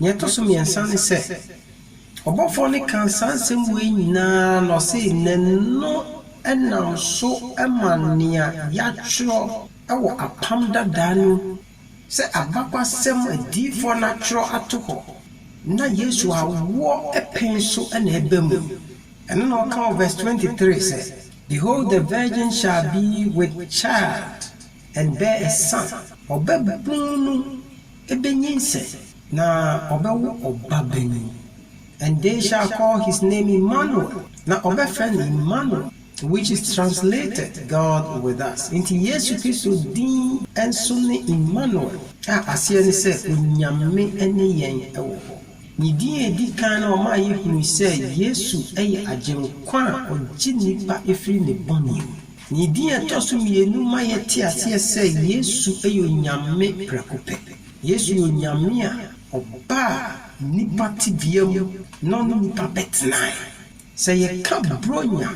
Nea ɛtɔ so mmiɛnsa ne sɛ, ɔbɔfoɔ no kaa saa nsɛm wei nyinaa na ɔse n'ano nam so ma nea yɛatwerɛ wɔ apam dadaa no mu sɛ abakwasɛm a adiyifoɔ no atwerɛ ato hɔ na Yesu awoɔ pɛn so na ɛba mu. Ɛno na ɔka wɔ verse 23 sɛ, Behold the virgin shall be with child. Ndɛ sa ɔbabun no bɛnyinsɛn na ɔbɛwo ɔbabanin. And they shall call his name Immanuel, na ɔbɛfrɛ no Immanuel, which is translated, God with us. Nti Yesu Kristo din nso ne Immanuel, a aseɛ ne sɛ Onyame ne yɛn wɔ hɔ. Ne din a ɛdi kan no ɔmaa yɛhunui sɛ Yesu yɛ Agyenkwa a ɔgye nnipa firi ne bɔne mu. Ne din a ɛtɔ so mmienu ma yɛte aseɛ sɛ Yesu yɛ Onyame prɛko pɛ. Yesu yɛ Onyame a ɔbaa nnipa tebea mu na ɔne nnipa bɛtenaeɛ. Sɛ yɛka Buronya,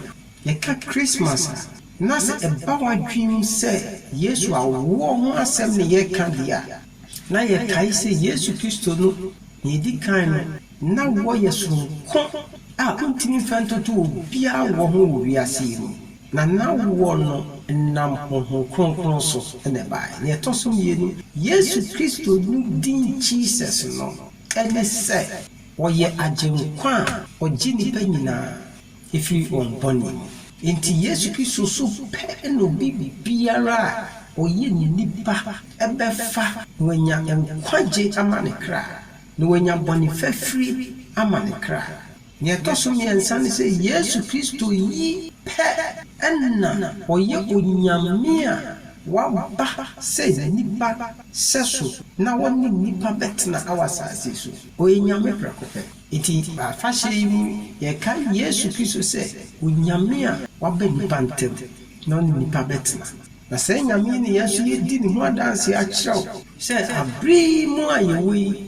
yɛka Christmas a, na sɛ ɛba w'adwene mu sɛ Yesu awoɔ ho asɛm na yɛreka deɛ a, na yɛkae sɛ Yesu Kristo no, deɛ ɛdi kan no, Ná wɔyɛ soronko a wontumi mfa ntoto obiara wɔ ho wɔ wiase yi mu, na na wɔnam honhom kronkron so na ɛbae. Nea ɛtɔ so mmienu, Yesu Kristo no din Jesus no ne sɛ ɔyɛ Agyenkwa a ogye nnipa nyinaa firi wɔn bɔne mu. Enti Yesu Kristo so pɛ na obi biara a ɔyɛ nipa bɛfa na wanya nkwagye ama ne kra. Na wanya bɔne fafiri ama ne kra. Nea ɛtɔ so mmiɛnsa ne sɛ Yesu Kristo yi pɛ na ɔyɛ Onyame a waba sɛ nipa sɛso na ɔne nnipa bɛtena wɔ asase so. Ɔyɛ Nyame prɛko pɛ. Enti wɔ afahyɛ yi mu yɛkae Yesu Kristo sɛ Onyame a waba nnipa ntam na ɔne nnipa bɛtena. Na saa Nyame yi na yɛn nso yɛdi ne ho adanseɛ akyerɛ wo. sɛ bere yi mu a yɛwɔ yi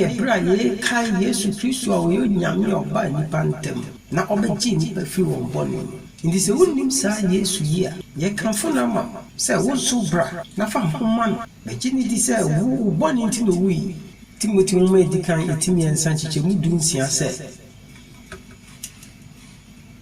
yɛ bere a yɛrekae Yesu Kristo a ɔyɛ Onyame a ɔbaa nnipa ntam na ɔbɛgyee nnipa fii wɔn bɔne mu. Enti sɛ wunnim saa Yesu yi a, yɛkamfo no ama wo sɛ wo nso bra na fa wo ho ma no bɛgye no di sɛ wo wo bɔne nti na owui. Timoteo Nwoma a Edi Kan, Eti Mmiɛnsa, Nkyekyɛmu Du Nsia, sɛ.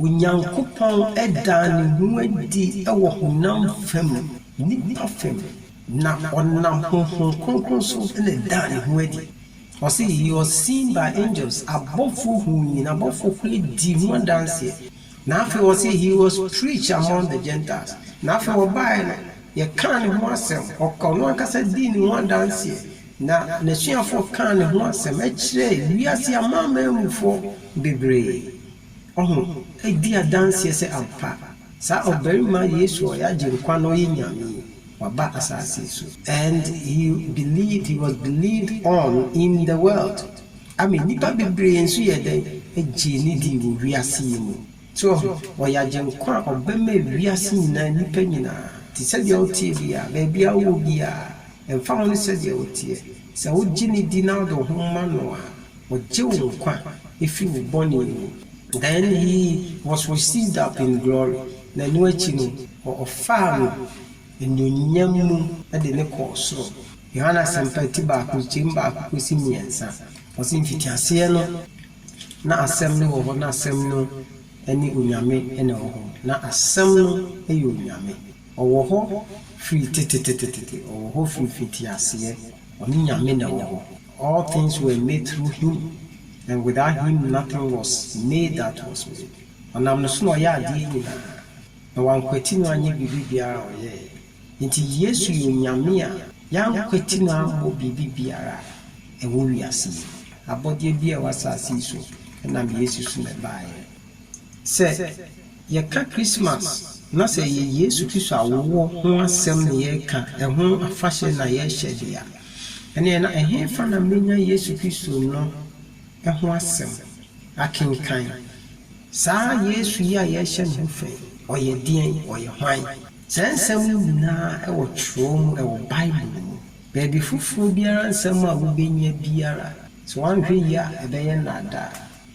Onyankopɔn daa ne ho adi wɔ honam fam, nnipa fam, na ɔnam honhom kronkron so na ɛdaa ne ho adi. Ɔse, He was seen by angels, abɔfoɔ huu no, na abɔfoɔ koraa dii ho adanseɛ. Na afei ɔse, He was preached among the Gentiles, na afei ɔbaeɛ no, yɛkaa ne ho asɛm, ɔka, ɔno ankasa dii ne ho adanseɛ, na n'asuafoɔ kaa ne ho asɛm kyerɛɛ wiase amanamanmufoɔ bebree. Ɔho, edi adanseɛ sɛ ampa, saa ɔbarima Yesu a ɔyɛ Agyenkwa no ye Nyame, waba asaase so. And he believed, he was believed on in the world, ame nnipa bebree nso yɛɛ dɛn? Gyee no dii wɔ wiase yi mu. So ɔho, ɔyɛ Agyenkwa a ɔbɛma wiase nyinaa, nnipa nyinaa, te sɛ deɛ woteɛ biara, baabi a wowɔ biara, ɛmfa ho ne sɛdeɛ woteɛ, sɛ wogye no di na wode wo ho ma no a, Ogye wo nkwa fi wo bɔne mu. Then he was received up in glory, na ɛno akyi no, wɔfaa no anuonyam mu de no kɔɔ soro. Yohane Asɛmpa ti baako nkyem baako kosi mmiɛnsa, ɔse mfitiaseɛ no na Asɛm no wɔ hɔ, na Asɛm no ne Onyame na ɛwɔ hɔ, na Asɛm no yɛ Onyame. Ɔwɔ hɔ firi tetetetete, ɔwɔ hɔ firi mfitiaseɛ, ɔne Nyame na ɛwɔ hɔ. All things were made through him, and without him nothing was made that was made. Ɔnam ne so na ɔyɛɛ adeɛ nyinaa, na wɔankwati no anyɛ biribi biara a ɔyɛeɛ. Enti Yesu yɛ Onyame a yɛankwati no ammɔ biribi biara a ɛwɔ wiase yi mu. Abɔdeɛ biara a ɛwɔ asase yi so, ɛnam Yesu so na ɛbaeɛ. Sɛ yɛka Christmas na sɛ ɛyɛ Yesu Kristo awoɔ ho asɛm na yɛreka, ɛho afahyɛ na yɛrehyɛ de a, ɛneɛ na ɛhefa na mɛnya Yesu Kristo no ho asɛm akenkan? Saa Yesu yi a yɛrehyɛ ne ho fɛ yi, ɔyɛ deɛn? Ɔyɛ hwan? Saa nsɛm yi nyinaa wɔ twerɛ mu, ɛwɔ Bible mu. Baabi foforɔ biara nsɛm a wobɛnya biara, sɛ woanhwɛ yie a, ɛbɛyɛ nnaadaa.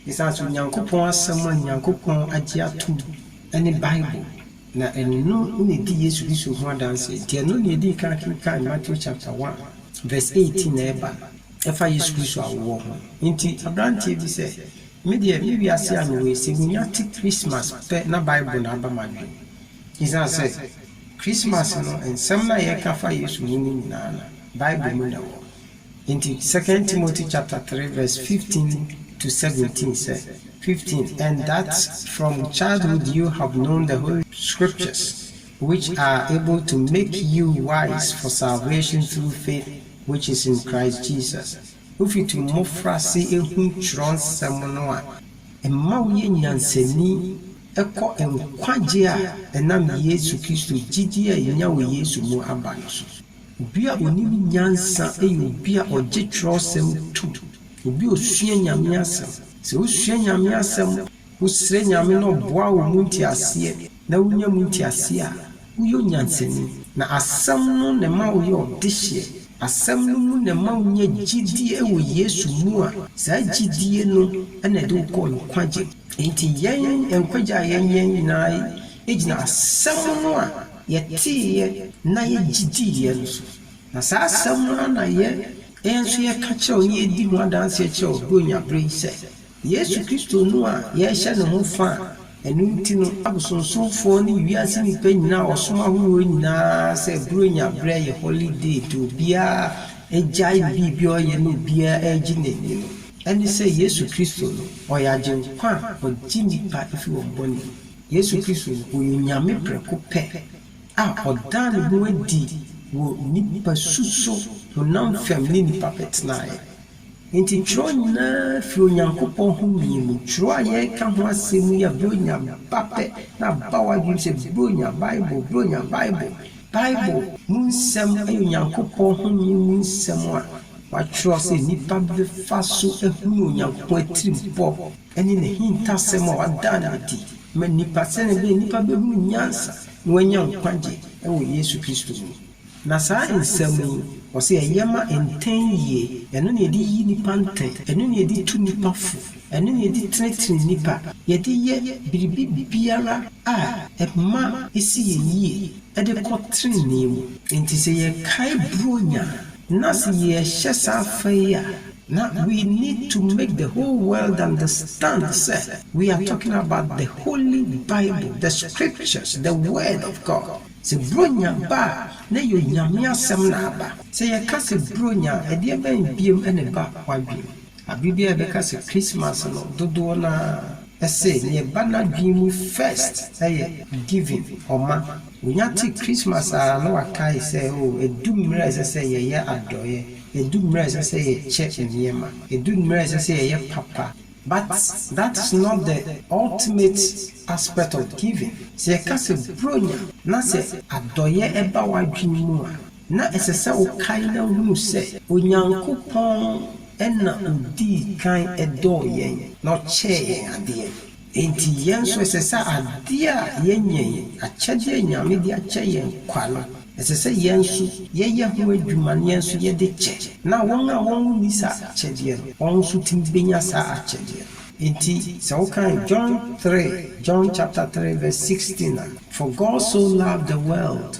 Esiane sɛ Onyankopɔn Asɛm a Onyankopɔn agye atom ne Bible, na ɛno na edi Yesu Kristo ho adanse nti, ɛno na yedii kan kenkan Matthew chapter one, verse eighteen a ɛba ɛfa Yesu Kristo awoɔ ho. Enti aberanteɛ bi sɛ, Me deɛ, me wiase a mewɔ yi, sɛ menya te Christmas pɛ na Bible na aba m'adwene mu. Esiane sɛ Christmas no, nsɛm no a yɛka fa Yesu ho no nyinaa no, Bible mu na ɛwɔ. Enti Second Timothy chapter three verse fifteen to seventeen sɛ, fifteen And that from childhood you have known the holy Scriptures, which are able to make you wise for salvation through faith which is in Christ Jesus. Wofiti wo mmofrase hu Kyerɛwnsɛm no a ɛma woyɛ nyansani kɔ nkwagye a ɛnam Yesu Kristo gyidi a enya wɔ Yesu mu aba no so. Obi a onim nyansa yɛ obi a ɔgye Kyerɛwsɛm tom, obi a osua Nyame Asɛm. Sɛ wusua Nyame Asɛm, wosrɛ Nyame na ɔboa wo mu nteaseɛ, na wunya mu nteaseɛ a, woyɛ onyansani. Na Asɛm no na ɛma woyɛ ɔdehyeɛ. Asɛm no mu na ɛma wunya gyidie wɔ Yesu mu a saa gyidie no na ɛde wo kɔ nkwagye mu. Enti yɛn nkwagye a yɛnyɛ nyinaa gyina Asɛm no a Yɛteeɛ na yɛgye diiɛ nso. Na saa asɛm no ara na yɛn nso yɛka kyerɛ wo na yɛdi ho adanseɛ kyerɛ wo Buronya berɛ yi sɛ, Yesu Kristo no a yɛrehyɛ ne ho fã a ɛno nti no abosonsomfoɔ ne wiase nnipa nyinaa a wɔsom ahoroɔ nyinaa sɛ Buronya berɛ yɛ holiday de obiara agyae ne biribi a ɔyɛ na obiara regye n'ani no ɛne sɛ Yesu Kristo no ɔyɛ Agyenkwa a ɔgye nnipa fi wɔn bɔne mu. Yesu Kristo, ɔyɛ Onyame prɛko pɛ a ɔdaa ne ho adi wɔ nnipa su so honam fam ne nnipa pɛ tenaeɛ. Enti twerɛ nyinaa firi Onyankopɔn home mu. Twerɛ a yɛreka ho asɛm yi a Buronya ba pɛ na aba w'adwenem sɛ Buronya Bible, Buronya Bible, Bible mu nsɛm yɛ Onyankopɔn home mu nsɛm a wɔatwerɛ sɛ nnipa bɛfa so ahunu Onyankopɔn atirimpɔ. ne n'ahintasɛm a ɔdaa no adi ma nnipa sɛnea ɛbɛyɛ a nnipa bɛhunu nyansa na wɔanya nkwagye wɔ Yesu Kristo mu. Na saa nsɛm yi, ɔse yɛyɛ ma ntɛn yie, ɛno na yɛde yi nnipa ntɛn, ɛno na yɛde tu nnipa fo, ɛno na yɛde tenetene nnipa, yɛde yɛ biribi biara a ɛma ɛsi yɛn yie de kɔ tenenee mu. Enti sɛ yɛkae Buronya na sɛ yɛhyɛ saa fa yi a, Na we need to make the whole world understand sɛ we are talking about the holy bible, the scriptures, the word of God. Sɛ Buronya ba a, na ɛyɛ Onyame asɛm na aba. Sɛ yɛka sɛ Buronya a, ɛdeɛ bɛn biom na ɛba w'adwene mu? Abre biara yɛbɛka sɛ Christmas no, dodoɔ no ara se nea ɛba n'adwene mu first yɛ giving, ɔma. Onya te Christmas a na wakae sɛ oh, ɛdu mmerɛ a ɛsɛ sɛ yɛyɛ adɔeɛ, Edu mmere a ɛsɛ sɛ yɛkyɛ nneɛma. Edu mmere a ɛsɛ sɛ yɛyɛ papa. But that is not the ultimate aspect of giving. Sɛ yɛka sɛ Buronya na sɛ adɔeɛ ba w'adwene mu a, na ɛsɛ sɛ wokae na hunu sɛ Onyankopɔn na ɔdii kan dɔɔ yɛn na ɔkyɛɛ yɛn adeɛ. Enti yɛn nso ɛsɛ sɛ adeɛ a yɛanya yi, akyɛdeɛ a Nyame de akyɛ yɛn kwa no, ɛsɛ sɛ yɛn nso yɛyɛ ho adwuma na yɛn nso yɛde kyɛ, na wɔn a wɔn nni saa akyɛdeɛ no, wɔn nso tumi bɛnya saa akyɛdeɛ no. Enti sɛ wokan John three, John chapter three verse sixteen a, For God so loved the world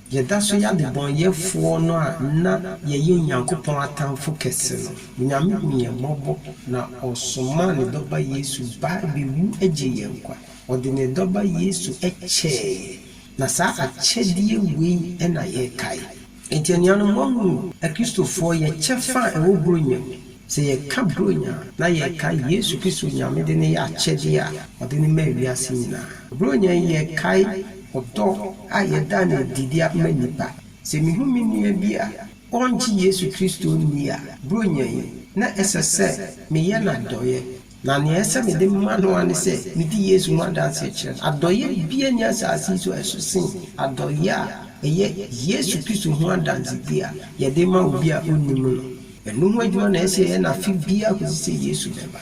Yɛda so yɛ adebɔneyɛfoɔ no a na yɛyɛ Onyankopɔn atamfo kɛse no. Onyame hu yɛn mmɔbɔ na ɔsomaa ne dɔba Yesu bae bɛwu gyee yɛn nkwa. Ɔde ne dɔba Yesu kyɛɛ yɛn, na saa akyɛdeɛ wei na yɛkae. Enti anuanom, moahunu Akristofoɔ yɛ kyɛfa a ɛwɔ Buronya mu? Sɛ yɛka Buronya a, na yɛreka Yesu Kristo Nyame de no yɛ akyɛdeɛ a ɔde no maa wiase nyinaa. Buronya yi yɛkae ɔdɔ a yɛda no adi de ama nnipa. Sɛ mehu me nua bi a ɔngye Yesu Kristo nni a, Buronya yi, na ɛsɛ sɛ meyɛ no adɔeɛ. Na nea ɛsɛ sɛ mede ma no ara ne sɛ medi Yesu ho adanse kyerɛ no. Adɔeyɛ biara nni asase yi so a ɛso sen adɔeyɛ a ɛyɛ Yesu Kristo ho adansedi a yɛde ma obi a onnim no. Ɛno ho adwuma na ɛsɛ sɛ yɛyɛ no afe biara kosi sɛ Yesu bɛba.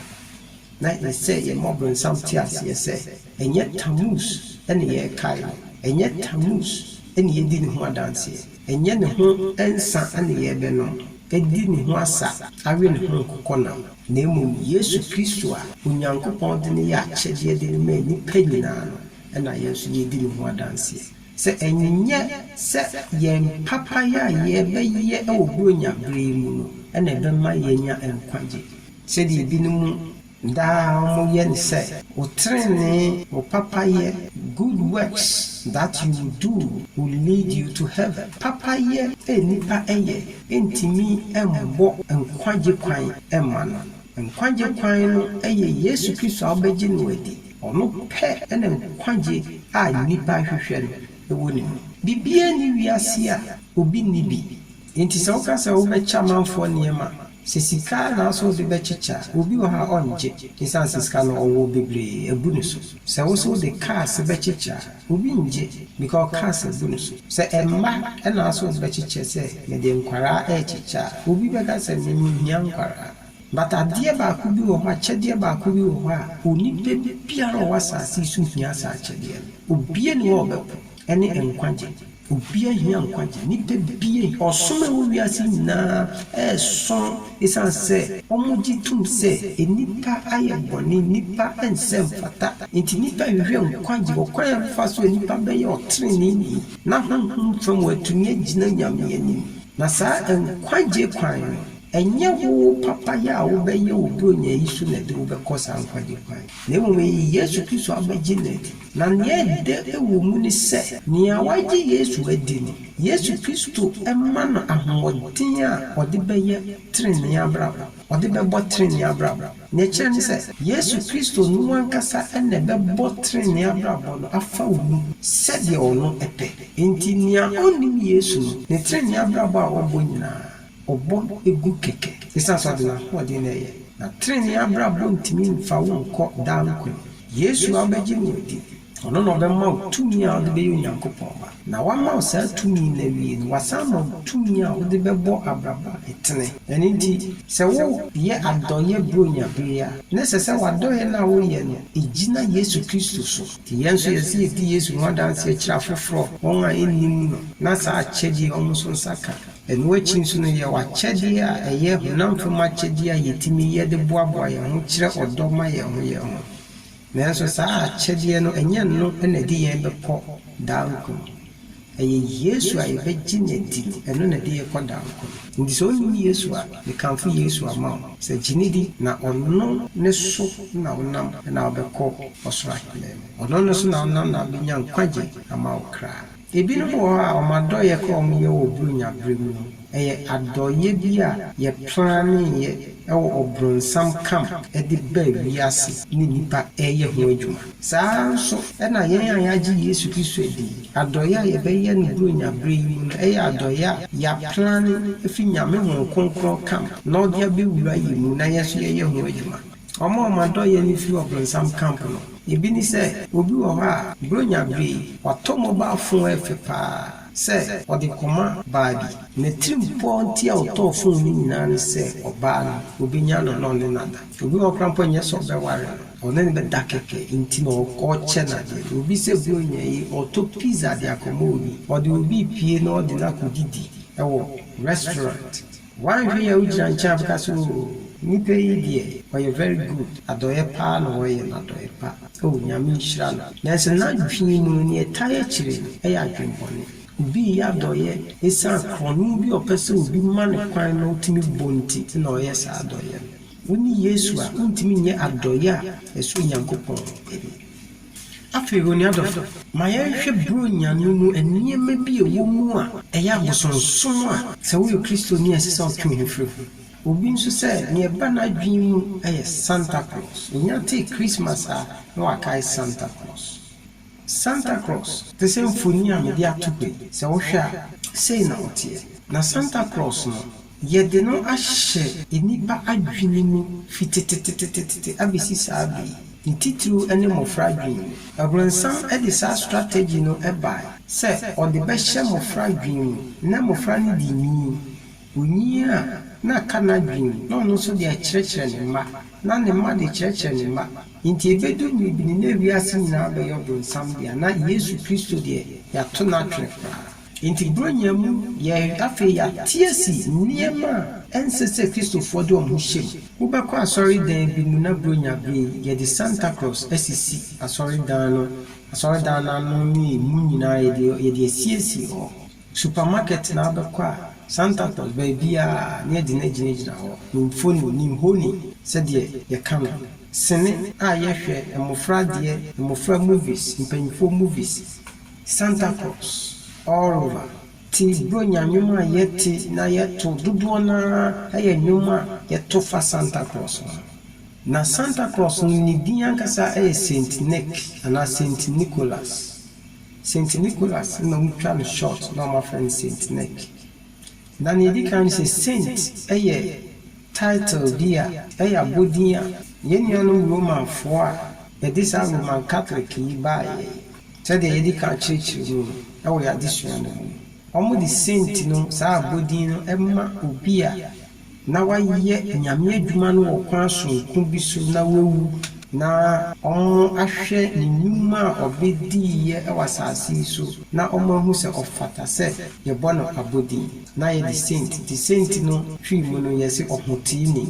Na ɛsɛ sɛ yɛma Ɔbonsam te aseɛ sɛ ɛnyɛ Tammuz na yɛrekae no, ɛnyɛ Tammuz na yɛredi ne ho adanseɛ. Ɛnyɛ ne ho nsã na yɛrebɛnom adi ne ho asa awe ne ho nkokɔnam, na mmom Yesu Kristo a Onyankopɔn de no yɛ akyɛdeɛ de no ma nnipa nyinaa no na yɛn nso yɛredi ne ho adanseɛ. Sɛ ɛnyɛ sɛ yɛn papayɛ a yɛbɛyɛ wɔ Buronya berɛ yi mu no na ɛbɛma yɛanya nkwagye, sɛdeɛ ebinom Daa wɔyɛ no sɛ. Wo trenee, wo papayɛ, good works that you will do will lead you to heaven. Papayɛ a nnipa yɛ ntumi mmɔ nkwagye kwan mma no. Nkwagye kwan no yɛ Yesu Kristo a wobɛgye no adi. Ɔno pɛ na nkwagye a nnipa hwehwɛ no wɔ ne mu. Biribiara nni wiase a obi nni bi. Enti sɛ woka sɛ wobɛkyɛ amanfoɔ nneɛma, sɛ sika ara na wosɛ wode bɛkyekyɛ a, obi wɔ hɔ a ɔnngye, esiane sɛ sika no ɔwɔ bebree abu ne so. Sɛ wosɛ wode cars bɛkyekyɛ a, obi nngye, because cars abu ne so. Sɛ mma na wosɛ wode bɛkyekyɛ sɛ mede nkwadaa rekyekyɛ a, obi bɛka sɛ me menhia nkwadaa. But adeɛ baako bi wɔ hɔ, akyɛdeɛ baako bi wɔ hɔ a onipa biara a ɔwɔ asase yi so hia saa akyɛdeɛ no. Obiara nni hɔ a ɔbɛpo. ne nkwagye. Obiara hia nkwagye. Nnipa bi, ɔsom a ɛwɔ wiase yi nyinaa reso esiane sɛ wɔgye tom sɛ nnipa ayɛ bɔne, nnipa nsɛ mfata. Enti nnipa rehwehwɛ nkwagye, ɔkwan a ɛbɛfa so a nnipa bɛyɛ ɔtreneeni na honhom fam wɔatumi agyina Nyame anim. Na saa nkwagye kwan no, ɛnyɛ wo papayɛ a wobɛyɛ wɔ Buronya yi so na ɛde wo bɛkɔ saa nkwagye kwan no, na mmom eye Yesu Kristo abɛgye no adi. Na nea ɛdɛ wɔ mu ne sɛ, nea wagye Yesu adi no, Yesu Kristo ma no ahoɔden a ɔde bɛyɛ trenee abrabɔ, ɔde bɛbɔ trenee abrabɔ. Nea ɛkyerɛ ne sɛ, Yesu Kristo no ankasa na ɛbɛbɔ trenee abrabɔ no afa wo mu sɛdeɛ ɔno pɛ. Enti nea ɔnnim Yesu no, ne trenee abrabɔ a ɔbɔ nyinaa, Ɔbɔ gu kɛkɛ. Esiane sɛ ɔde n'ahoɔden na ɛyɛ. Na trenee abrabɔ ntumi mfa wo nkɔ daa nkwa mu. Yesu a wobɛgye no adi. Ɔno na ɔbɛma wo tumi a wode bɛyɛ Onyankopɔn ba. Na wama wo saa tumi no awie no, wasan ama wo tumi a wode bɛbɔ abrabɔ a ɛtene. Ɛno nti, sɛ woreyɛ adɔeyɛ Buronya bere yi a, na ɛsɛ sɛ w'adɔeyɛ no a woreyɛ no, egyina Yesu Kristo so. Enti yɛn nso yɛsɛ sɛ yedi Yesu ho adanse kyerɛ afoforo, wɔn a ennim no, na saa akyɛde yi a wɔn nso nsa ka Ɛno akyi nso no, yɛwɔ akyɛdeɛ a ɛyɛ honam fam akyɛdeɛ a yɛtumi yɛ de boaboa yɛn ho kyerɛ ɔdɔ ma yɛn ho yɛn ho. Nanso saa akyɛdeɛ no, ɛnyɛ ɛno na ɛde yɛn bɛkɔ daa nkwa mu. Ɛyɛ Yesu a yɛbɛgye no adi no, ɛno na ɛde yɛn kɔ daa nkwa mu. Nti sɛ wonnim Yesu a, mekamfo Yesu ama wo sɛ gye no di na ɔno ne so na wonam na wobɛkɔ ɔsoro aheman mu. Ɔno ne so na wonam na wobɛnya nkwagye ama wo kra. Ebinom wɔ hɔ a wɔn adɔeɛ koro a wɔyɛ wɔ Buronya berɛ mu no, ɛyɛ adɔeɛ bi a yɛplaneeɛ wɔ ɔbronsam camp de baa wiase ne nnipa reyɛ ho adwuma. Saa ara nso na yɛn a yɛagye Yesu Kristo adi yi, adɔeɛ a yɛbɛyɛ no Buronya berɛ yi mu no yɛ adɔeɛ a yɛaplane firi Nyame Honhom Kronkron camp na ɔde abɛwura yɛn mu na yɛn nso yɛyɛ ho adwuma. Wɔn a wɔn adɔeyɛ no firi ɔbronsam camp no, ebi ne sɛ, obi wɔ hɔ a, Buronya bere yi, watɔ mobile phone ɛfɛ paa sɛ ɔde rekɔma baa bi. N'atirimpɔw nti a ɔtɔɔ phone no nyinaa ne sɛ ɔbaa no, obenya no na ɔne no ada. Obi wɔ hɔ koraa mpo a, ɛnyɛ sɛ ɔbɛware no, ɔne no bɛda kɛkɛ nti na ɔrekyɛ no ade. Obi sɛ Buronya yi, ɔtɔ pizza de akɔma obi, ɔde obi repue na ɔde no akɔdidi wɔ restaurant. Wanhwɛ yi a wogyina nkyɛn a bɛka sɛ oh nipa yi deɛ ɔyɛ very good adɔeɛ paa na ɔyɛ no adɔeɛ pa oh Nyame nhyira no nanso n'adwene mu no neɛ ɛtae akyire no ɛyɛ adwene bɔne obi reyɛ adɔeɛ ɛsiane korɔno bi a ɔpɛ sɛ obi ma no kwan na ɔtumi bɔ nti na ɔreyɛ saa adɔeɛ no wonni Yesu a wontumi nyɛ adɔeɛ a ɛsɔ Onyankopɔn ani. Afei, onua dɔfo, ma yɛnhwɛ Buronya no mu nneɛma bi a ɛwɔ mu a ɛyɛ abosonsom a. Sɛ woyɛ Kristoni a, ɛsɛ sɛ wotwe wo ho firi ho. Obi nso sɛ nea ɛba n'adwene mu yɛ Santa Claus. Onyaa tee Christmas a, na wakae Santa Claus. Santa Claus te sɛ mfoni a mede ato hɔ yi. Sɛ wohwɛ a, sei na ɔteɛ. Na Santa Claus no. Yɛde no ahyɛ nnipa adwene mu fi tetetetetete abesi saa bere yi, ne titiriw ne mmofra adwene mu. Aburowsam de saa strategy no bae sɛ ɔde bɛhyɛ mmofra adwene mu. Ná mmofra no de nyin. Onyin a, na aka n'adwene mu, na ɔno nso de akyerɛkyerɛ ne mma, na ne mma de kyerɛkyerɛ ne mma. Enti ebedu mmere bi no, na wiase nyinaa bɛyɛ Ɔbronsam dea, na Yesu Kristo deɛ, yɛato no atwene koraa. Enti Buronya mu yɛn afei yɛateɛ si nneɛma a ɛnsɛ sɛ Kristofoɔ de wɔn ho hyɛm. Wobɛkɔ asɔredan bi mu na Buronya bere yi yɛde Santa Claus asisi asɔredan no asɔredan no ano ne emu nyinaa yɛde yɛde asiesie hɔ. Supermarket na wobɛkɔ a Santa Claus baabiara na yɛde no agyinagyina hɔ. Ne mfoni, ne nhoni sɛdeɛ yɛka no. Sini a yɛhwɛ, mmofra adeɛ, mmofra movies, mpanyinfoɔ movies. Santa Claus all over. Ti Buronya nnwom a yɛte na yɛto dodoɔ no ara yɛ nnwom a yɛto fa Santa Claus ho. Na Santa Claus no ne din ankasa yɛ Saint Nick anaa Saint Nicholas. Saint Nicholas na wɔtwa no short na wɔafrɛ no Saint Nick. Na nea ɛdi kan ne sɛ Saint yɛ title bi a ɛyɛ abɔdin a yɛn nuanom Romanfoɔ a ɛde saa Roman Catholic yi baeɛ yi Sɛdeɛ yɛadi kan akyerɛkyerɛ mu no wɔ yɛn adesua no mu no, wɔde senti no saa abɔdin no ma obi a na wayɛ Nyame adwuma no wɔ kwan sononko bi so na wawu, na wɔahwɛ ne nnwuma a ɔbɛdiiɛ wɔ asase yi so na wɔahu sɛ ɔfata sɛ yɛbɔ no abɔdin na yɛde senti, nti senti no firi mu no yɛse ɔhoteeni.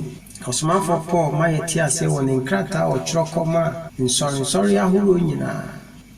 Ɔsomafoɔ Paul ma yɛte aseɛ wɔ ne nkrataa a ɔtwerɛ kɔmaa nsɔrensɔre ahoroɔ nyinaa,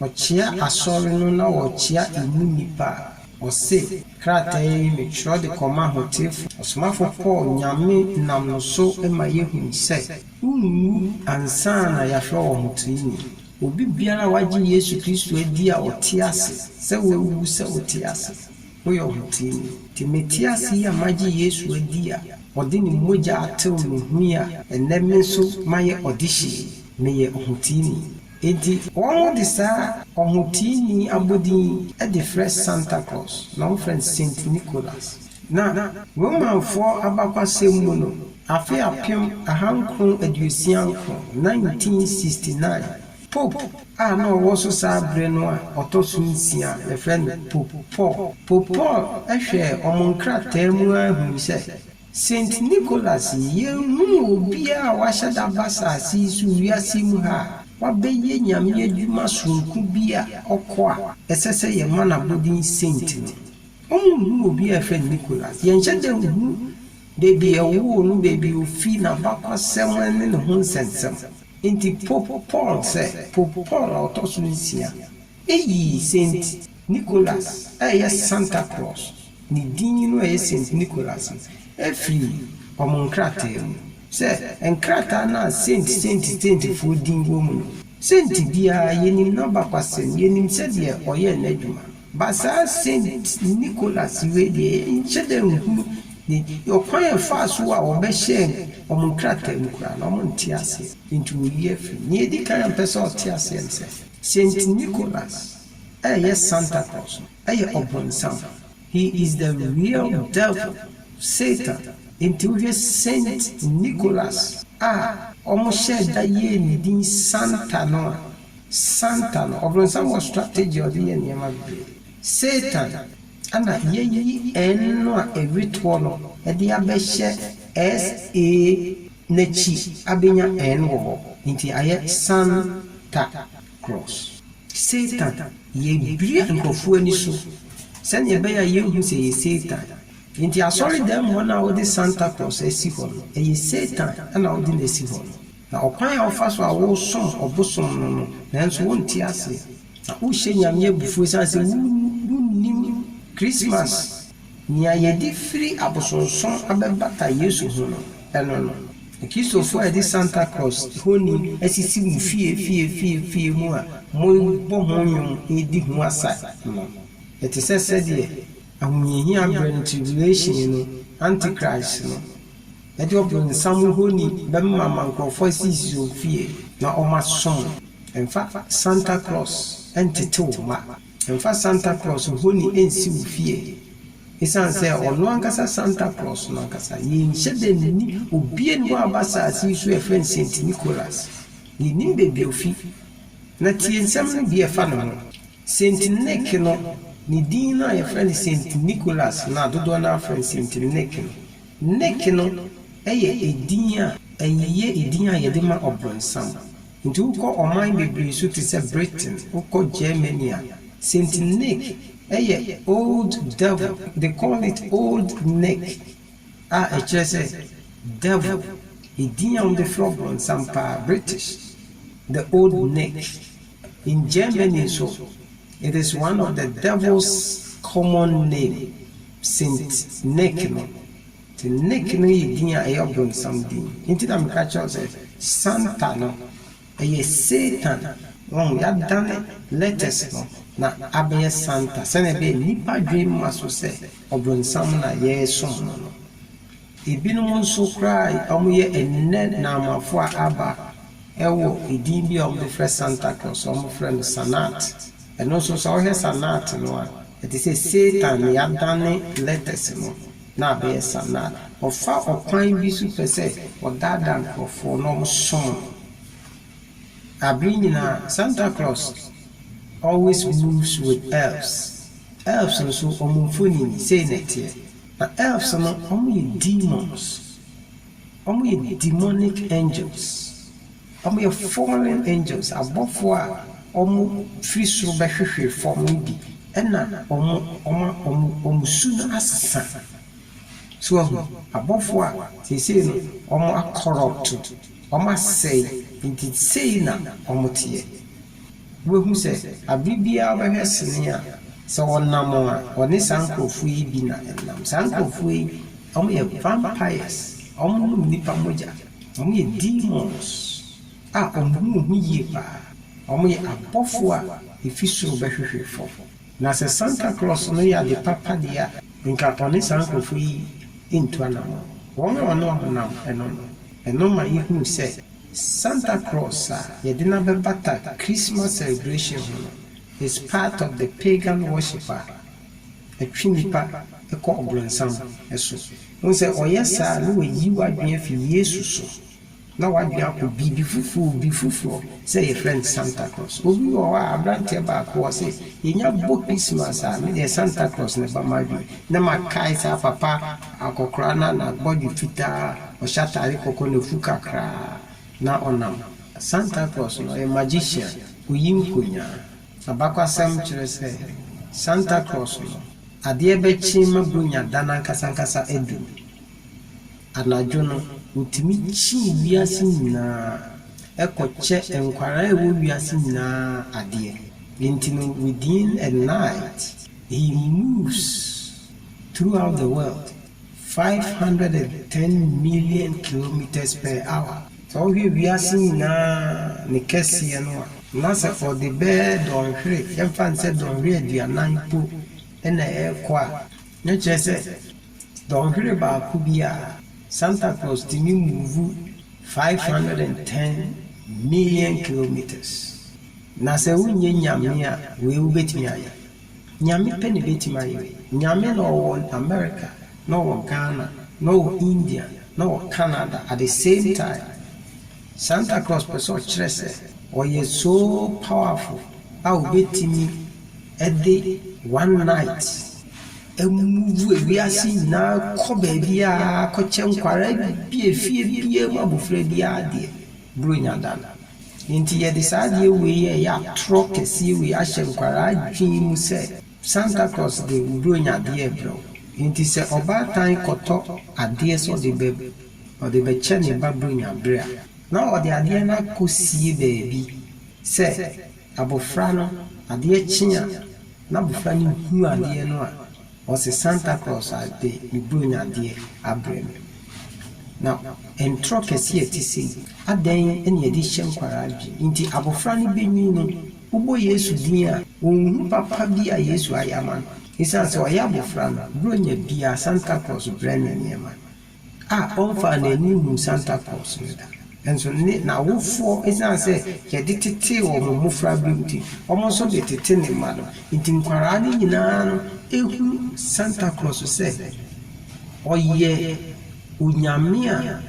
ɔkyea asɔre no na ɔkyea emu nnipa a, ɔse, Krataa yi metwerɛ de kɔma ahoteefoɔ. Ɔsomafoɔ Paul Nyame nam no so ma yɛhu sɛ wonwu ansa na yɛafrɛ wɔn ahoteeni. Obi biara a wagye Yesu Kristo adi a ɔte ase sɛ wawu sɛ ɔte ase. Woyɛ ɔhoteni. Te mete ase yi a magye Yesu adi a ɔde ne mogya atew me ho yi a ɛnnɛ me nso mayɛ ɔdehye yi, meyɛ ɔhoteni. Enti. Wɔde saa ɔhoteni abodin yi de frɛ Santa Claus, na wɔfrɛ no Saint Nicholas. Na Romanfoɔ abakɔasɛm mu no, afe apem ahankron aduosia nkron, 1969, Pope a na ɔwɔ so saa bere no a ɔtɔ so nsia a wɔfrɛ no Pope Paul. Pope Paul hwɛɛ wɔn nkrataa mu ara hui sɛ, Saint Nicholas yi, yenhuu obiara a wahyɛ da aba asase yi so wiase yi mu ha a wabɛyɛ Nyame adwuma soronko bi a ɔkɔ a ɛsɛ sɛ yɛma no abodin Saint no. Wɔnhuu obiara a wɔfrɛ no Nicholas. Yɛnhyɛ da nhu baabi a wɔwoo no, baabi a ofi, n'abakwasɛm ne ne ho nsɛnsɛm. Enti Pope Paul sɛ Pope Paul a ɔtɔ so nsia yii Saint Nicholas a ɛyɛ Santa Claus ne din no a ɛyɛ Saint Nicholas no firii wɔn nkrataa mu, sɛ nkrataa no a Saint, Saint, Saintfoɔ din wɔ mu no, Saint biara, yɛnim n'abakwasɛm, yɛnim sɛdeɛ ɔyɛɛ n'adwuma. Basaa Saint Nicholas wei deɛ yɛnhyɛ da nhunu ne ɔkwan a ɛfaa so a wɔbɛhyɛɛ wɔn nkrataa mu koraa no, wɔnte aseɛ. Enti wɔyi afiri mu. Nea ɛdi kan a mepɛ sɛ ɔte aseɛ ne sɛ, Saint Nicholas a ɛyɛ Santa Claus no yɛ ɔbonsam. He is the real devil, Satan. Enti wohwɛ Saint Nicholas a wɔhyɛɛ da yɛɛ ne din Santa no a, Satan, ɔbronsam wɔ strategy a ɔdze yɛ nneɛma bebree. Satan, ana yeyi N no a ewetoɔ no de abɛhyɛ SA n'akyi abenya N wɔ hɔ, enti ayɛ Santa Claus. Satan, yebue nkorɔfoɔ ani so sɛnea ɛbɛyɛ a yenhu sɛ ɛyɛ Satan. Enti asɔredan mu hɔ no a wode Santa Claus asi hɔ no, ɛyɛ Satan na ɔde no asi hɔ no. Na ɔkwan a wofa so a wosom ɔbosom no no, nanso wonte aseɛ. Na wohyɛ Nyame abufuo esiane sɛ wonnim Christmas, nea yɛde firi abosonsom abɛbata Yesu ho no, no no. Na Kristofo a yɛde Santa Claus honi asisi mo fie fie fie fie mu a mobɔ ho nnwom redi ho asa no, ɛte sɛ sɛdeɛ ahohiahia berɛ no tribulation no, Antichrist no, Mɛde ɔbonsam honi bɛma ma nkurɔfoɔ asisisi wɔn fie na wɔasom. Mfa Santa Claus ntete wo mma. Mfa Santa Claus honi nsi wo fie. Esiane sɛ ɔno ankasa Santa Claus no ankasa, yɛnhyɛ da nni obi ani hɔ a ɔba asase yi so a yɛfrɛ no Saint Nicholas. Yɛnnim baabi a ɔfi. Na tie nsɛm no bi a ɛfa ne ho. Saint Nick no, ne din no a yɛfrɛ no Saint Nicholas no a dodoɔ no ara frɛ no Saint Nick no, Nick no yɛ edin a ɛyɛ edin a yɛde ma ɔbronsam. Nti wokɔ ɔman bebree so te sɛ Britain, wokɔ Germany a, Saint Nick yɛ old devil, they call it old Nick a ɛkyerɛ sɛ devil, edin a wɔde frɛ ɔbronsam paa, British, the old Nick. In Germany nso, it is one of the devil's common name, Saint Nick no. Nti Nick no yɛ din a ɛyɛ ɔbronsam din. Nti na meka kyerɛ wo sɛ Santa no, ɛyɛ Satan, wahu, yɛadane letters no na abɛyɛ Santa sɛnea ɛbɛyɛ nnipa dwene mma so sɛ ɔbronsam na yɛresom no no. Ebinom nso koraa a wɔyɛ ɛnnɛ Naamafo a aba wɔ edin bi a wɔde frɛ Santa Claus, wɔfrɛ no Sanat. Ɛno nso sɛ wohwɛ Sanat no a, ɛte sɛ Satan na yɛadane letters no na abɛyɛ Sanat. Ɔfa ɔkwan bi so pɛ sɛ ɔdaadaa nkurɔfoɔ na wɔsom no. Abere nyinaa Santa Claus always moves with elves. Elves nso wɔn mfonini sei na ɛteɛ. Na elves no, wɔyɛ demons. Wɔyɛ demonic angels. Wɔyɛ fallen angels, abɔfoɔ a wɔfiri soro bɛhwehwee fam no bi, ɛna wɔn, wɔma wɔn, wɔn su no asesa. So wahu? Abɔfoɔ a seesei no wɔakɔrɔpto, wɔasɛe, nti sei na wɔteɛ. Wubehu sɛ bere biara wobɛhwɛ sini a, sɛ wɔnam a, wɔne saa nkurɔfo yi bi na ɛnam. Saa nkurɔfo yi, wɔyɛ vampires, wɔnom nnipa mogya, wɔyɛ demons a wɔn ho nhu yie paa. Wɔyɛ abɔfo a efi soro bɛhwehwe fam. Na sɛ Santa Claus no yɛ ade papa deɛ a, anka ɔne saa nkurɔfo yi ntu anammɔn. Wɔn a wɔne wɔn nam no no, ɛno ma yehu sɛ. Santa Claus a yɛde no abɛbata Christmas celebration ho no is part of the pagan worship a ɛtwe nnipa kɔ ɔbronsam so. Wohu sɛ ɔyɛ saa a na wayi w'adwene afi Yesu so na w'adwene akɔ biribi foforo, obi foforo sɛ yɛfrɛ no Santa Claus. Obi wɔ hɔ a, abranteɛ baako wɔ hɔ sɛ yɛnya bɔ Christmas a, medeɛ Santa Claus na ɛba m'adwene na makae saa papa akɔkoraa no a n'abɔdwe fitaa, Ɔhyɛ atade kɔkɔɔ na afu kakra na ɔnam. Santa Claus no, ɔyɛ magician, oyi nkonnyaa. Abakwasɛm kyerɛ sɛ Santa Claus no, adeɛ bɛkye ma Buronya da no ankasankasa aduru. Anadwo no, ɔtumi kye wiase nyinaa kɔkyɛ nkwadaa a ɛwɔ wiase nyinaa adeɛ. Enti no, within a night, he moves throughout the world. Five hundred and ten million kilometres per hour, sɛ wohwɛ wiase nyinaa ne kɛseɛ no a, na sɛ ɔde bɛyɛ dɔnhwere, yɛmfa no sɛ dɔnhwere aduanan mpo na ɛrekɔ a, na kyerɛ sɛ dɔnhwere baako biara, Santa Claus tumi move five hundred and ten million kilometres. Na sɛ wonyɛ Nyame a, wei wobɛtumi ayɛ? Nyame pɛ na ebetumi ayɛ. Nyame na ɔwɔ America, na ɔwɔ Ghana, na ɔwɔ India, na ɔwɔ Canada at the same time. Santa Claus pɛ sɛ ɔkyerɛ sɛ ɔyɛ so powerful a obetumi de one night amove ewiase nyinaa kɔ baabiara kɔkyɛ nkwadaa bi a fie biara mu abofra biara deɛ. Buronya da no. Enti yɛde saa adeɛ wei a ɛyɛ atorɔ kɛseɛ wei ahyɛ nkwadaa adwene mu sɛ Santa Claus de wo Buronya adeɛ rebrɛ wo. Enti sɛ ɔbaatan kɔtɔ adeɛ sɛ ɔde bɛ, ɔde bɛkyɛ ne ba Buronya berɛ a, na ɔde adeɛ no akɔsie baabi sɛ abɔfra no, adeɛ kye a na abɔfra no hu adeɛ no a, Ɔse Santa Claus a de ne Buronya adeɛ abrɛ me. Na ntorɔ kɛseɛ a ɛte sei, adɛn na yɛde hyɛ nkwadaa adwene nti abɔfra no bɛnyin no, wobɔ Yesu din a, ɔnhu papa bi a Yesu ayɛ ama no? Ɛsiane sɛ ɔyɛ abɔfra no, Buronya biara, Santa Claus brɛ no nneɛma. A ɔmfaa n'ani nhuu Santa Claus no da. Nanso ne n'awofoɔ, ɛsiane sɛ yɛde tetee wɔn mmofraberem nti, wɔn nso de tete ne mma no. Enti nkwadaa no nyinaa no hu Santa Claus sɛ ɔyɛ onyame a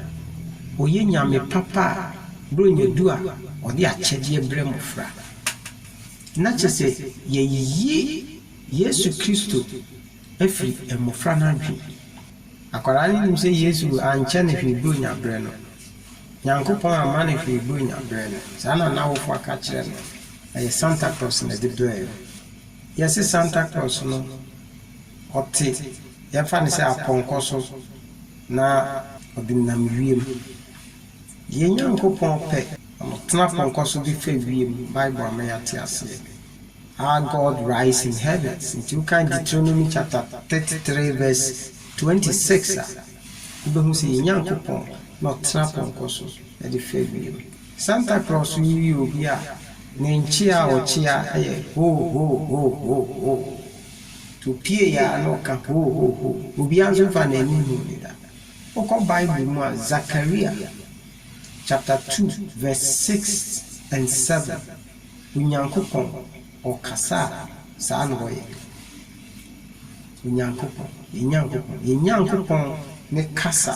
ɔyɛ nyame papa a berɛ a ɔnya du a, ɔde akyɛdeɛ brɛ mmofra. Na kyerɛ sɛ yɛayi Yesu Kristo afiri mmofra no adwene mu. Akwadaa no nim sɛ Yesu ankyɛ no hwee Buronya berɛ no. Nyankopɔn amma no hwee Buronya berɛ no. Saa na n'awofoɔ aka akyerɛ no. Ɛyɛ Santa Claus na ɛde brɛɛ no. Yɛse Santa Claus no, ɔte, yɛmfa no sɛ apɔnkɔ so, na ɔde nam wiem. Yɛn Nyankopɔn pɛ, na ɔtena apɔnkɔ so de fa wiem. Bible ama yɛate aseɛ. Our God rides in heavens. Nti wokan Deuteronomy chapter thirty three verse twenty six a, wobɛhu sɛ yɛn Nyankopɔn na ɔtena pɔnkɔ so de fa wiem. Santa Claus yi yɛ obi a ne nkyea a ɔkyea yɛ hoo hoo hoo hoo hoo. Nti opue yɛ a na ɔka hoo hoo hoo. Obiara nso mfa n'ani nhuu no da. Wokɔ Bible mu a, Zakaria chapter two verse six and seven. Onyankopɔn ɔkasa a saa na ɔyɛ. Onyankopɔn, yɛn Nyankopɔn, yɛn Nyankopɔn ne kasa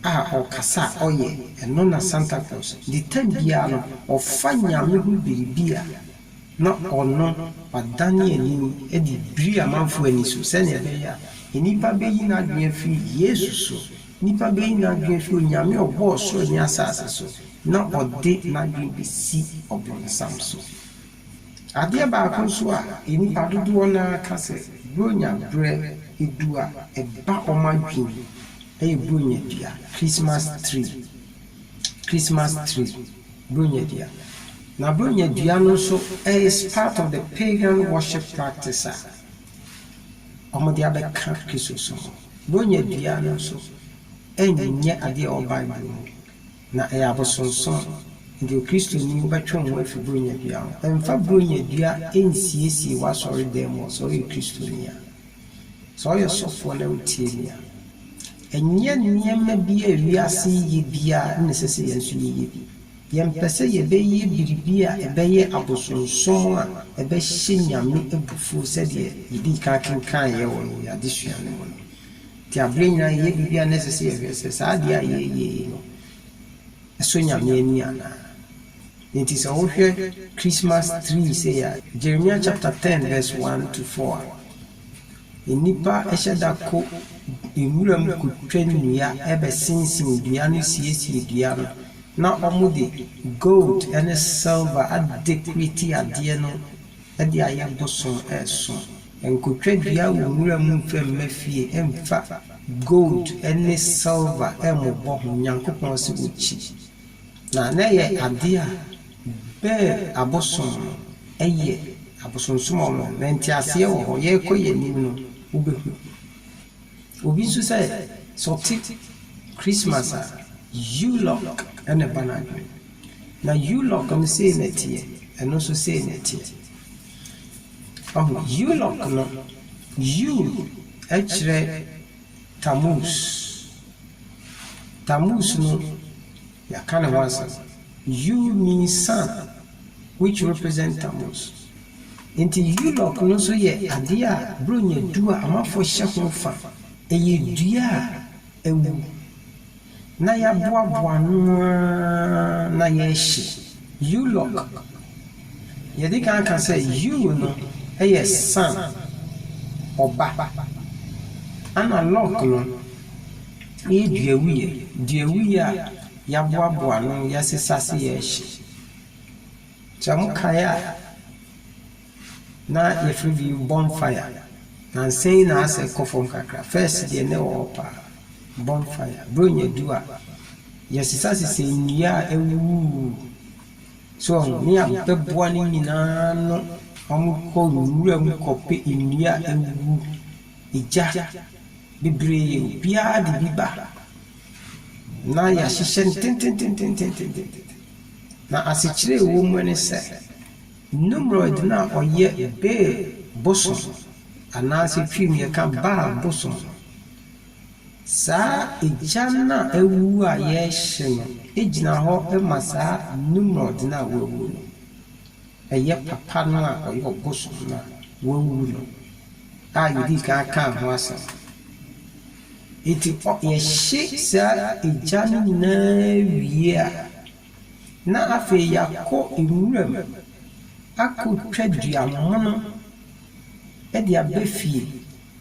a ɔkasa a ɔyɛ, ɛno na Santa Claus de tam biara no ɔfa Nyame ho biribi a na ɔno wadane ani de biri amanfoɔ ani so sɛnea ɛbɛyɛ a nnipa bɛyi n'adwene afiri Yesu so Nnipa beyi n'adwene afi Onyame a ɔbɔɔ soro ne asase so na ɔde n'adwene besi ɔbonsam so. Adeɛ baako nso a nnipa dodoɔ no ara ka sɛ Buronya berɛ du a, ɛba wɔn adwene mu yɛ Buronya dua, Christmas tree, Christmas tree, Buronya dua. Na Buronya dua no nso is part of the pagan worship practice a wɔde abɛka Kristosom ho. Wɔanya dua no nso nyɛ adeɛ a ɛwɔ Bible mu, na ɛyɛ abosonsom. Enti Okristoni, wobɛtwe wo ho afiri Buronya dua ho. Mfa Buronya dua nsiesie w'asɔredan mu hɔ sɛ woyɛ Kristoni a. Sɛ woyɛ ɔsɔfoɔ na wotie me a, ɛnyɛ nneɛma bi a wiase yi yɛ biara na ɛsɛ sɛ yɛn nso yɛyɛ bi. Yɛmpɛ sɛ yɛbɛyɛ biribi a ɛbɛyɛ abosonsom a ɛbɛhyɛ Nyame abufuo sɛdeɛ yɛdii kan kenkaneeɛ wɔ yɛn adesua no mu no. Nti aberɛ nyinaa yɛyɛ biribi a na ɛsɛ sɛ yɛhwɛ sɛ saa adeɛ a yɛreyɛ yi no, ɛsɔ Nyame ani anaa. Nti sɛ wohwɛ Christmas tree sei a, Jeremia chapter ten verse one to four a, Nnipa hyɛ da kɔ nwuram kotwa nnua, bɛsensen dua no siesie dua no, na wɔde gold ne silver adekoreti adeɛ no de ayɛ bosom resom. Nkotwa dua wɔ nwura mu mfa mma fie, mfa gold ne silver mmobɔ ho, Nyankopɔn se wɔkyi. Na na ɛyɛ adeɛ a bɛɛ abosom no yɛ, abosonsom a wɔyɛ. Na nteaseɛ wɔ hɔ. Yɛrekɔ yɛn anim no, wobɛhu. Obi nso sɛ, sɛ ɔte Christmas a, U-lock na ɛba n'adwene mu. Na U-lock no sei na ɛteɛ, ɛno nso sei na ɛteɛ. Wahu? U-lock no, U kyerɛ. Tammuz. Tammuz no, yɛaka ne ho asɛm. Yuu means sun, which represent Tammuz. Enti Yulok no nso yɛ adeɛ a Buronya du a Amafoɔ hyɛ ho fa. Ɛyɛ dua a awu. Na yɛaboaboa ano ara na yɛrehye U-lock. Yɛadi kan aka sɛ U no yɛ sun, ɔba, ɛnna lock no yɛ duawuiɛ. Duawuiɛ a yɛaboaboa ano, yɛasesa ase rehye. Sɛ mokae a. Na yɛfrɛ bi bonfire. Nansa yi na asɛ kɔ fam kakra. First deɛ na ɛwɔ hɔ paa. Bonfire. Buronya du a, yɛsesasesa nnua a awuwu. So wɔn? Ne abɛboa no nyinaa ano. Wɔkɔ nwura mu kɔpɛ nnua a awuwu. Egya bebree. Obiara de bi ba. Na yɛahyehyɛ no tentententententen. Na asekyerɛ a ɛwɔ mu ne sɛ. Nimrod no a ɔyɛ Bel bosom anaasɛ Twi mu yɛka Baal bosom no, saa egya no a awu a yɛrehye no gyina hɔ ma saa Nimrod no a wawu no. Ɛyɛ papa no a ɔyɛ ɔbosom no a wawu no a yɛdii kan kaa ho asɛm no. Enti ɔ yɛhye saa egya no nyinaa wie a, na afei yɛakɔ nwuram akɔtwa dua mono de aba fie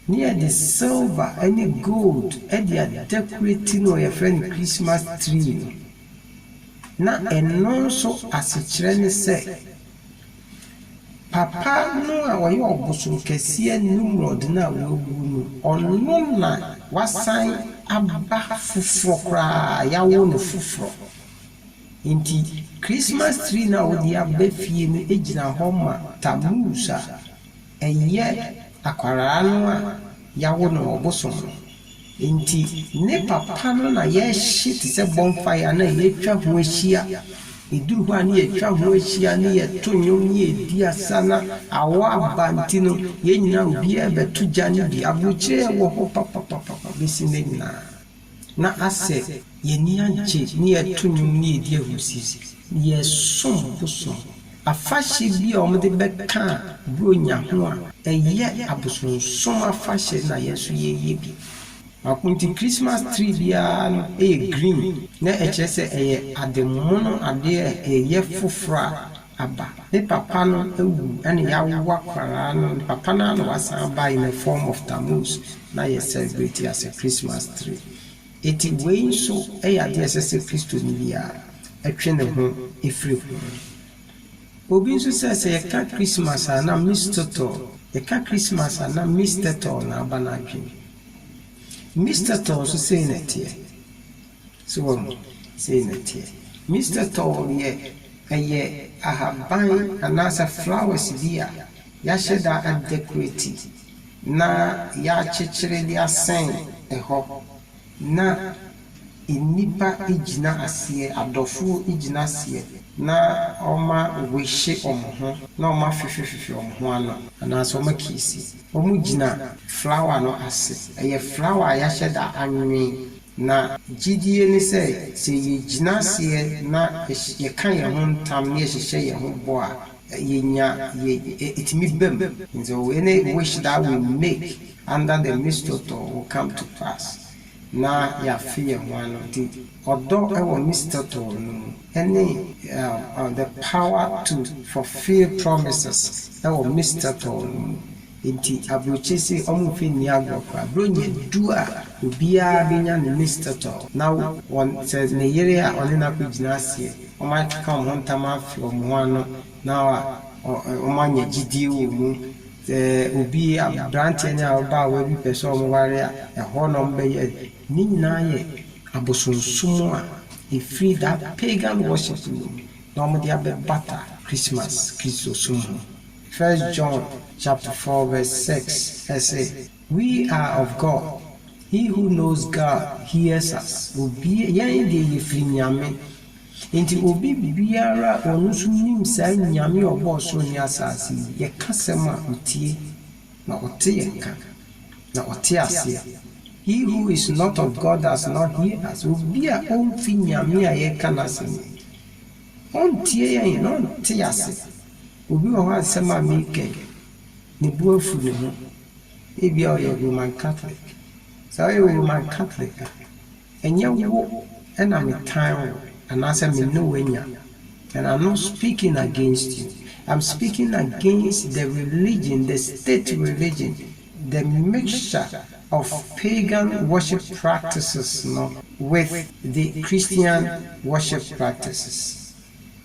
na yɛde silver ne gold de a decorate no a yɛfrɛ no Christmas tree no. Na ɛno nso asekyerɛ ne sɛ. Papa no a ɔyɛ ɔbosom kɛseɛ Nimrod no a wawu no, ɔno na wasan aba foforɔ koraa, yɛawo no foforɔ. Enti Christmas tree no a wode aba fie no gyina hɔ ma Tammuz a. Ɛnyɛ akwadaa no a yɛawo no wɔ bosom no nti ne papa no na yɛhye te sɛ bonfire no a yɛtwa ho ahyia. Ɛduru hɔ a ne yɛtwa ho ahyia ne yɛto nnwom ne yɛdi asa na awɔ aba nti no yɛn nyinaa obiara bɛto gya no bi. Aburokyire wɔ hɔ papapapa bɛsi nnɛ nyinaa. na asɛ yɛn ani agye ne yɛreto nnwom ne yɛredi ahurusi. Yɛresom bosom. Afahyɛ bi a wɔde bɛka Buronya ho a ɛyɛ abosonsom afahyɛ na yɛn nso yɛreyɛ bi. Baako nti, Christmas tree biara no yɛ green na ɛkyerɛ sɛ ɛyɛ ademono adeɛ a ɛyɛ foforɔ a aba. Ne papa no awu ɛna y'awo akwadaa no, ne papa no ara na w'asan aba in a form of Tammuz na yɛ celebrate as a Christmas tree. Enti wei nso ɛyɛ adeɛ a ɛsɛ sɛ Kristoni biara ɛtwe ne ho ɛfiri ho. Obi nso sɛ, sɛ yɛka Christmas a na Mistotol, yɛka Christmas a na Mistetol na aba n'adwene mu. Mistetol nso sei na ɛteɛ. So wahu? Sei na ɛteɛ. Mister Tall deɛ, ɛyɛ ahaban anaasɛ flowers bi a yɛahyɛ da adɛkorati na yɛakyekyere de asɛn hɔ na nnipa gyina aseɛ, adɔfoɔ gyina aseɛ na wɔawehye wɔn ho na wɔafefefefe wɔn ho ano anaasɛ wɔakiisi. Wɔgyina flower no ase. Ɛyɛ flower a yɛahyɛ da anwen Na gyedie ne sɛ, sɛ yɛgyina aseɛ na yɛka yɛn ho ntam na yɛhyehyɛ yɛn ho bɔ a, yɛnya yɛ ɛtumi ba mu. And so any wish that we make under the mistletoe will come to pass, na yɛafe yɛn ho ano. Nti ɔdɔ wɔ mistletoe no mu ɛne the power to fulfill promises wɔ mistletoe no mu. Enti abrokyi se wɔn mfe nni agorɔ koraa. Bere nya du a obiara benya ne Miss Turtle na wɔn, sɛ ne yere a ɔne no akogyina aseɛ, wɔakeka wɔn ho ntama afe wɔn ho ano na wɔanya gyidie wɔ mu. Sɛ obi, abranteɛ ne ababaawa bi pɛ sɛ wɔware a, ɛhɔ na wɔbɛyɛ. Ne nyinaa yɛ abosonsom a ɛfiri that pagan worship no mu na wɔde abɛbata Christmas, Kristosom ho. First John chapter four verse six se, We are of God, he who knows God hears us, obia, yɛn deɛ yɛfiri Nyame, enti obi biara a ɔno nso nim saa Nyame a ɔbɔɔ soro ne asaase yi, yɛka asɛm a, ɔtie, na ɔte yɛn nka, na ɔte aseɛ. He who is not of God does not hear us, obi a ɔmfi Nyame a yɛreka n'asɛm yi, ɔntie yɛn, na ɔnte ase. Obi wɔ hɔ a nsɛm a mereka yi, ne bo afu ne ho. Ebia ɔyɛ Roman Katolek. Sɛ woyɛ Roman Katolek a, ɛnyɛ wo na metan wo anaasɛ me ne wo anya. And I'm not speaking against you. I'm speaking against the religion, the state religion, the mixture of pagan worship practices no with the Christian worship practices.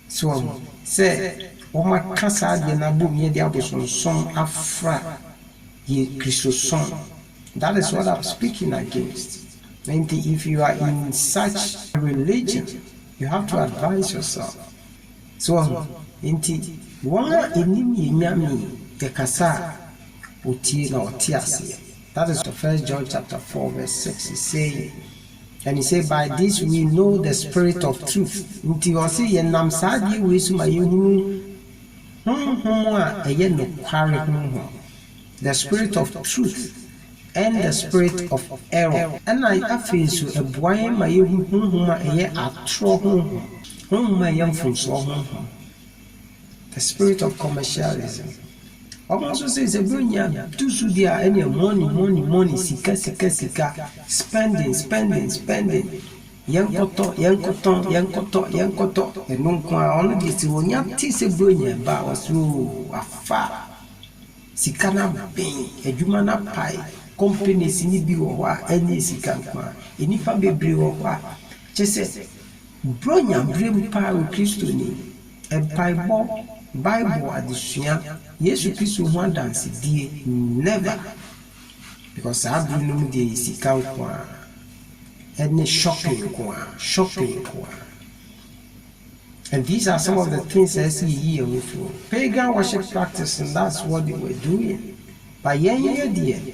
So wahu sɛ wɔaka saa adeɛ no abom yɛde abosonsom afra yɛn Kristosom that is what I'm speaking against nti if you are in such a religion you have to advise yourself so wahu nti wɔn a ɛnim yɛn Nyame yɛkasa a wɔtie na wɔte aseɛ. That is for first John chapter four verse six is saying and he say by this we know the spirit of truth nti ɔse yɛ nam saa adeɛ wei so ma yɛ hunu honhom a ɛyɛ nokware honhom the spirit of truth and the spirit of error ɛna afei nso ɛboa yɛn ma yɛ hu honhom a ɛyɛ atorɔ honhom honhom a ɛyɛ mfomsoɔ honhom The spirit of commercialism Wɔn nso se sɛ bronya tu so deɛ a ɛneɛ money money money sika sika sika spending spending spending yɛnkɔtɔ yɛnkɔtɔn yɛnkɔtɔ yɛnkɔtɔ ɛno nko a ɔno deɛ sɛ onya te sɛ bronya ɛba a ɔse oo afa sika no aben adwuma no apae companies no bi wɔ hɔ a ɛneɛ sika nko a nnipa bebree wɔ hɔ a kyɛ sɛ Buronya bere mu paa wɔ Kristoni mpaebɔ, Bible adesua, Yesu Kristo ho adansedie. Never! Because saa bere no mu deɛ yɛ sika nko ara ɛne shopping nko ara, shopping nko ara. And these are some of the things a ɛsɛ yɛyi yɛn ho firi ho. Pagan worship practice no, that's what they were doing. But yɛn yɛ deɛ,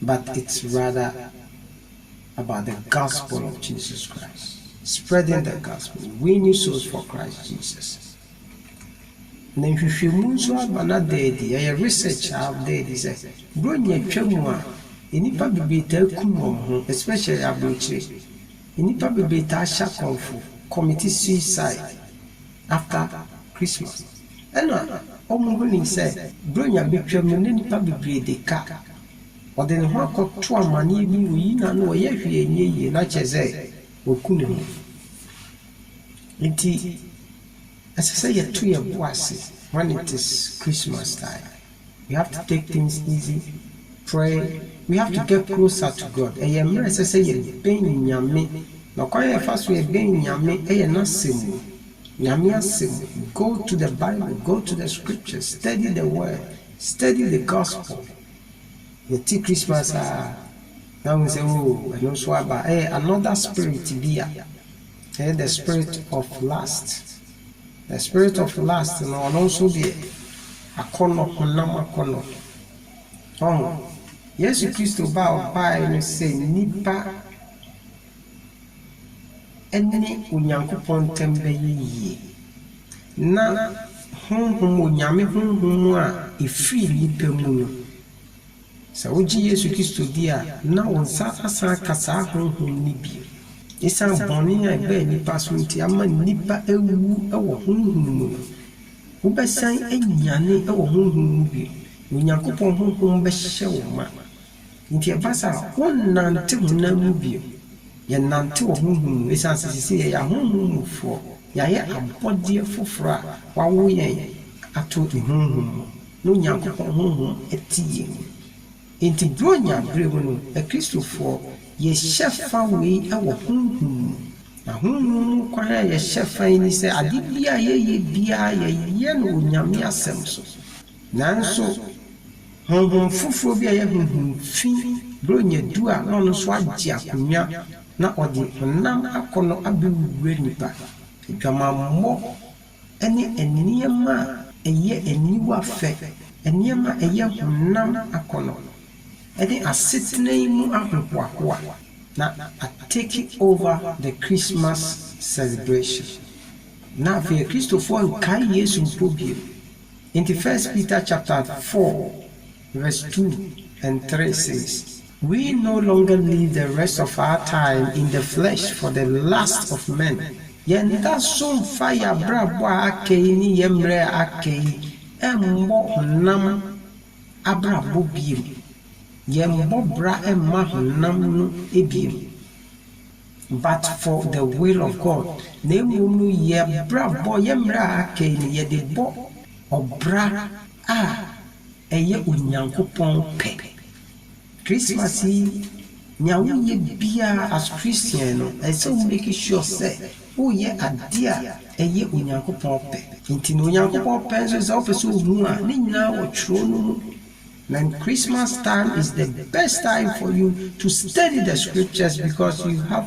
but it's rather about the gospel of Jesus Christ, spreading the gospel, winning souls for Christ Jesus. Na nhwehwɛmu nso ama no ada adi, ɛyɛ research a ada adi sɛ Buronya twa mu a, nnipa bebree taa kum wɔn ho, especially aburokyire. Nnipa bebree taa hyɛ akɔmfo, commit suicide. After Christmas, ɛna wɔhunii sɛ Buronya bɛtwam no na nnipa bebree de ka. Ɔde ne ho akɔto amanneɛ bi mu yi na na ɔyɛ hwee anyɛ yie na kyerɛ sɛ waku ne ho. Enti ɛsɛ sɛ yɛto yɛn bo ase when it is Christmas time. We have to take things easy, pray, we have to get closer to God, ɛyɛ mmerɛ ɛsɛ sɛ yɛ bɛn Nyame, na ɔkwan a yɛfa so yɛ bɛn Nyame yɛ N'asɛm mu, Nyame asɛm mu, go to the Bible, go to the scriptures, study the word, study the gospel, yɛ te Christmas a na wohu sɛ oo ɛno nso aba, ɛyɛ another spirit bi a Ɛyɛ the spirit of lust. The spirit of lust no ɔno nso deɛ akɔnnɔ, honam akɔnnɔ. Ɔho, Yesu Kristo ba a ɔbaeɛ no sɛ nnipa ne Onyankopɔn ntam bɛyɛ yie. Na honhom, Onyame honhom a ɛfiri nnipa mu no, Sɛ wogye Yesu Kristo di a, na wo nsa asan aka saa honhom no bio. Esiane bɔne a ɛbaa nnipa so nti ama nnipa awu wɔ honhom mu no, wobɛsan anyane wɔ honhom mu bio, na Onyankopɔn honhom bɛhyɛ wo ma. Enti ɛba saa a, wonnante honam mu bio. Yɛnante wɔ honhom mu esiane sɛ seesei yɛyɛ ahonhom mufoɔ, yɛayɛ abɔdeɛ foforɔ a wɔawo yɛn ato ne honhom mu. No Nyankopɔn honhom te yɛn mu. Enti Buronya bere mu no, Akristofoɔ, yɛhyɛ fa wei wɔ honhom mu. Na honhom mu kwan a yɛhyɛ fa yi ne sɛ ade biara a yɛyɛ biara yɛyɛ no Onyame asɛm so. Nanso honhom foforɔ bi a ɛyɛ honhom fi Buronya du a na ɔno nso agye akonnwa na ɔde honam akɔnnɔ abɛwura nnipa, adwamammɔ, ne nneɛma a ɛyɛ aniwa fɛ, nneɛma a ɛyɛ honam akɔnnɔ, ne asetena yi mu ahohoahoa na a take over the Christmas celebration. Na afei Akristofoɔ nkae Yesu mpo bio. Enti First Peter chapter four. Verse two and three says, We no longer live the rest of our time in the flesh for the lusts of men. Yɛnda so mfa yɛn abrabɔ a aka yi ne yɛn mmerɛ a aka yi mmɔ honam abrabɔ bio. Yɛmbɔ bra mma honam no bio. But for the will of God. Na mmom no yɛn abrabɔ, yɛn mmerɛ a aka yi no, yɛde bɔ ɔbra a Ɛyɛ Onyankopɔn pɛ. Christmas yi, nea woyɛ biara as Christian no, ɛsɛ sɛ wo make sure sɛ woyɛ ade a ɛyɛ Onyankopɔn pɛ. Enti na Onyankopɔn pɛ nso sɛ wopɛ sɛ ohu a, ne nyinaa wɔ Kyerɛw no mu. Na Christmas time is the best time for you to study the scriptures because you have.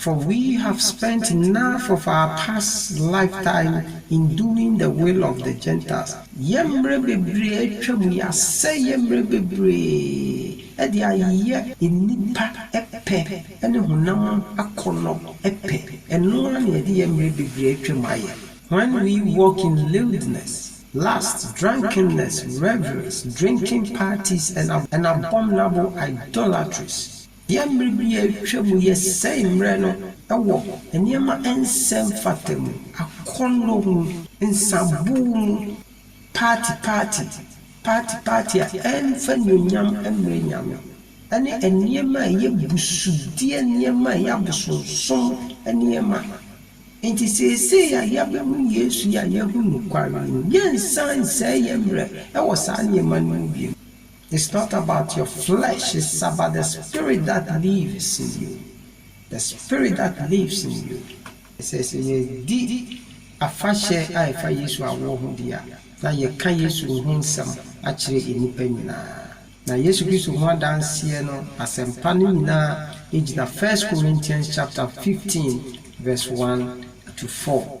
For we have spent enough of our past lifetime in doing the will of the Gentiles. Yɛn mmerɛ bebree a atwam, yɛasɛe yɛn mmerɛ bebree de ayeyɛ nnipa pɛ ne honam akɔnnɔ pɛ. Ɛno ara na yɛde yɛn mmerɛ bebree a atwam ayɛ. When we walk in lewdness, lust, drunkenness, revelries, drinking parties, and abominable idolatries. Yɛn mmere bi a atwa mu yɛsɛe mmere no wɔ nneɛma a ɛnsɛ mfata mu, akɔnnɔ mu, nsabow mu, paati paati, paati paati a ɛmfa anuonyam mmrɛ Nyame, ne nneɛma a ɛyɛ busudeɛ nneɛma a ɛyɛ abosonsom nneɛma. Enti seesei a yɛabehu Yesu yi a yɛahu nokware yi no, yɛnsan nsɛe yɛn mmere wɔ saa nneɛma no mu bio. It's not about your flesh it's about the spirit that lives in you the spirit that lives in you ɛsɛ sɛ yɛdi afahyɛ a ɛfa Yesu awoɔ ho deɛ a na yɛka Yesu ho nsɛm akyerɛ nnipa nyinaa na Yesu Kristo ho adanseɛ no asɛmpa no nyinaa gyina First Corinthians chapter 15 verse 1 to 4.